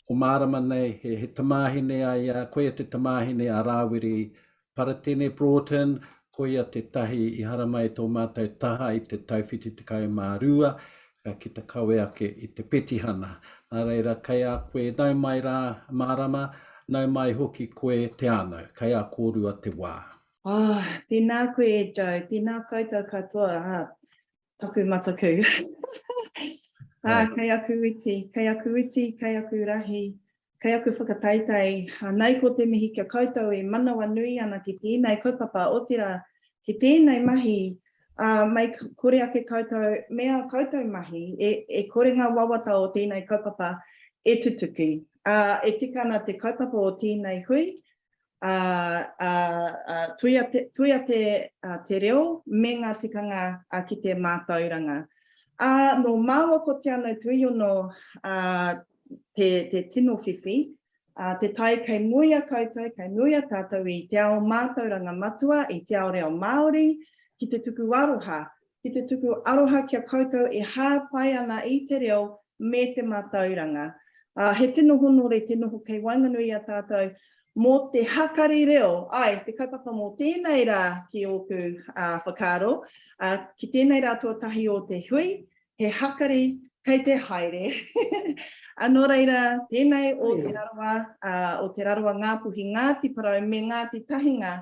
Ko Mārama nei, he, he tamāhine a ia, koia te tamāhine a Rāwiri Paratene Broughton, koia tētahi i haramai i tō mātou taha i te tau 72, ka kita kawe ake i te petihana. Nā reira, kei a koe nau mai rā, Mārama, nau mai hoki koe te ānau, kei a kōrua te wā. Oh, tēnā koe e Joe, tēnā koutou katoa, ā, Taku mataku. ah, kei aku witi, kei aku witi, kei aku rahi, kei aku whakataitai. Anei ko te mihi kia koutou e manawa nui ana ki tēnei kaupapa, otirā, ki tēnei mahi, uh, mai kore ake koutou, mea koutou mahi, e, e kore ngā wawata o tēnei kaupapa e tutuki. Uh, e tika ana te kaupapa o tēnei hui, Ā, ā, ā, tuia te, tuia te, ā, te reo me ngā tikanga, ā, ki te mātauranga. Ā, nō māua ko Te Anau Tuiono, ā, te, te tino whiwhi, ā, te tae kei muia koutou, kei muia tātou i te ao mātauranga matua, i te ao reo Māori, ki te tuku aroha, ki te tuku aroha ki a koutou e hāpai ana i te reo me te mātauranga. Ā, he tino honore te noho kei waenganui i a tātou mō te hakari reo. Āe, te kaupapa mō tēnei rā ki ōku whakaaro, ā, ki tēnei rā tuatahi o te hui, he hakari kei te haere. Ā, nō reira, tēnei o Te Rarawa, ā, o Te Rarawa, Ngā Puhi, Ngāti Porou me Ngāti Tahinga,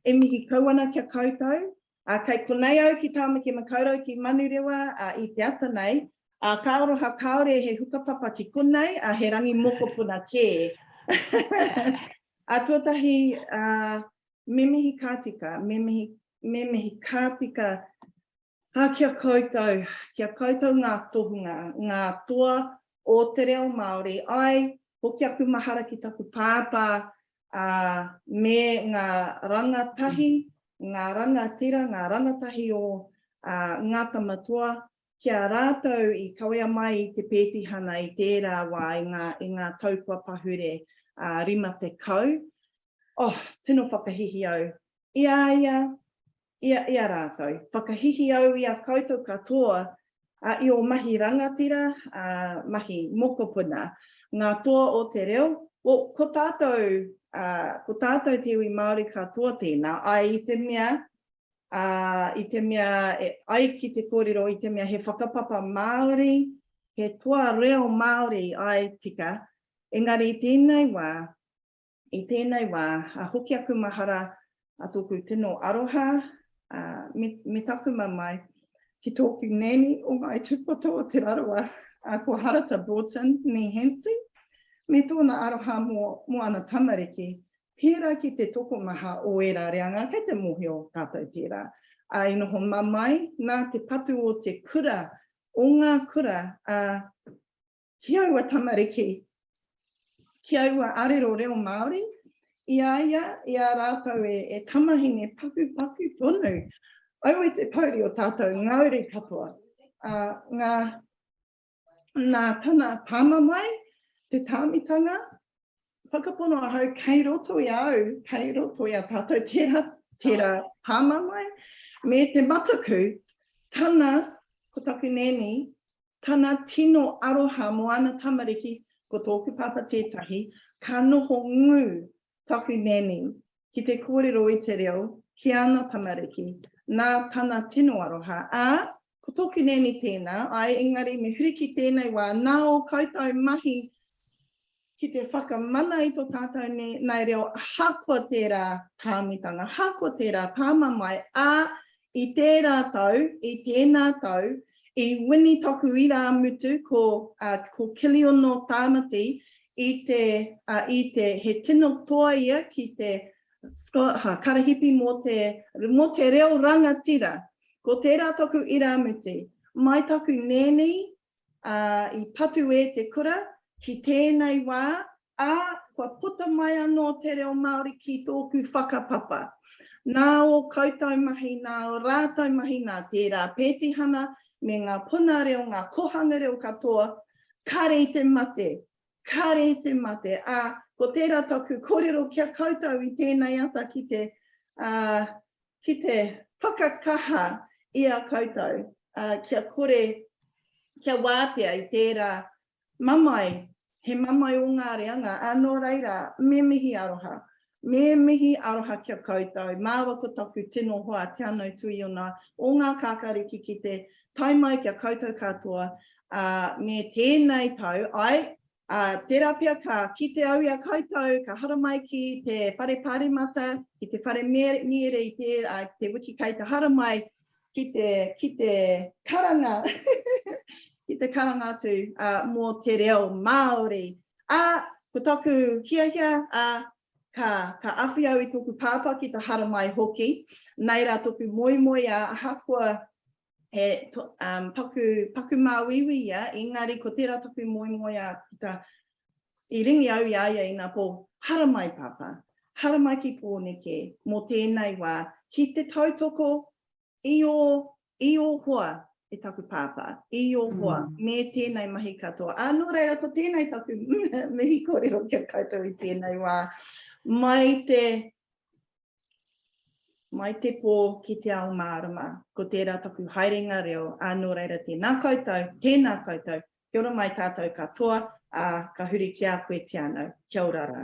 e mihi kau ana ki a koutou, Ā, kei konei au ki Tāmaki Makaurau, ki Manurewa, ā, i te ata nei, ā, ka aroha kāore he hukapapa ki konei, ā, he rangi mokopuna kē. Ā, tuatahi, ā, me mihi ka tika, me mihi, me mihi ka tika, ā, ki a koutou, ki a koutou ngā tohunga, ngā toa o te reo Māori, āe, hoki aku mahara ki taku pāpā, ā, me ngā rangatahi, ngā rangatira, ngā rangatahi o Ngā Tamatoa, ki a rātou i kawea mai i te pētihana i tērā wā i ngā tau kua pahure ā 50. Oh, tino whakahihi au. I a ia, i a i a rātou. Whakahihi au i a koutou katoa i ō mahi rangatira, ā, mahi mokopuna, ngā toa o te reo, o, ko tātou, ā, ko tātou te iwi Māori katoa tēnā, āe i te mea, ā, i te mea, e ai ki te kōrero, i te mea he whakapapa Māori, he toa reo Māori, āe tika, engari i tēnei wā, I tēnei wā, a hoki aku mahara, a tōku tino aroha, a, me, me taku mamae, ki tōku nanny o Ngāi Tūpoto o Te Rarawa, a ko Harata Broughton, nee Hansie, me tōna aroha mō, mō ana tamariki, pērā ki te tokomaha o ērā reanga, kei te mōhio tātou tērā. A, i noho mamae, nā te patu o te kura, o ngā kura, a, ki aua tamariki, ki aua arero reo Māori, i a ia, i a rātou e, e tamahine pakupaku tonu. Aue te pouri o tātou ngauri katoa, ā, ngā, nā tana pāmamae, te tāmitanga, Whakapono ahau kei roto i a au, kei roto i a tātou tērā, tērā pāmamae, me te mataku, tana, ko taku nēni, tana tino aroha mō ana tamariki, ko tōku pāpā tētahi, ka noho ngū taku nēni ki te kōrero i te reo ki ana tamariki, nā tana tino aroha, ā, Ko tōku nēni tēnā, āe, engari me huri ki tēnei wā, nā ō koutou mahi ki te whakamana i tō tātou nēnei reo ahakoa tērā tāmitanga, ahakoa tērā pāmamae, ā, i tērā tau, i tēnā tau, i wini toku irāmutu ko, ā, ko Kiliono Tāmati i te, ā, i te, he tino toa ia ki te, ha, karahipi mō te, mō te reo rangatira, Ko tērā taku irāmutu, mai taku nēni, ā, i patu e te kura ki tēnei wā, ā, kua puta mai anō te reo Māori ki tōku whakapapa. Nā ō koutou mahi, nā ō rātou mahi, nā tērā pētihana me ngā puna reo, ngā kōhanga reo katoa, kare i te mate, kare i te mate, ā, ko tērā taku kōrero ki a koutou i tēnei ata ki te, ā, ki te whakakaha i a koutou kia kore kia wātea i tērā mamae, he mamae o ngā reanga, ā, nō reira, me mihi aroha. Me mihi aroha ki a koutou, māua ko taku tino hoa Te Anau Tuiona o ngā Kākāriki ki te tae mai ki a koutou katoa me tēnei tau, ae, Ā, tērā pea ka kite au i a koutou, ka haramai ki te whare paremata, ki te whare mīere i te, ā, ki te wiki kei te haramai, ki te, ki te karanga, ki te karanga atu, ā, mō te reo Māori. Ā, ko taku hiahia, ā, ka, ka awhi au i tōku pāpā ki te haramai hoki, nei rā tōku moemoeā, ahakoa He paku, paku māuiui ia, engari ko tērā taku moemoeā puta, i ringi au i a ia ina pō, Haramai Pāpā, haramai ki Pōneke mō tēnei wā, ki te tautoko i ō, i ō hoa e taku Pāpā, i ō hoa me tēnei mahi katoa. Ā, nō reira ko tēnei taku mihi kōrero ki a koutou i tēnei wā, mai te, Mai te pō ki te ao mārama, ko tērā taku haerenga reo, ā, nō reira tēnā koutou, tēnā koutou, kia ora mai tātou katoa, ā, ka huri ki a koe te anau. Kia ora rā.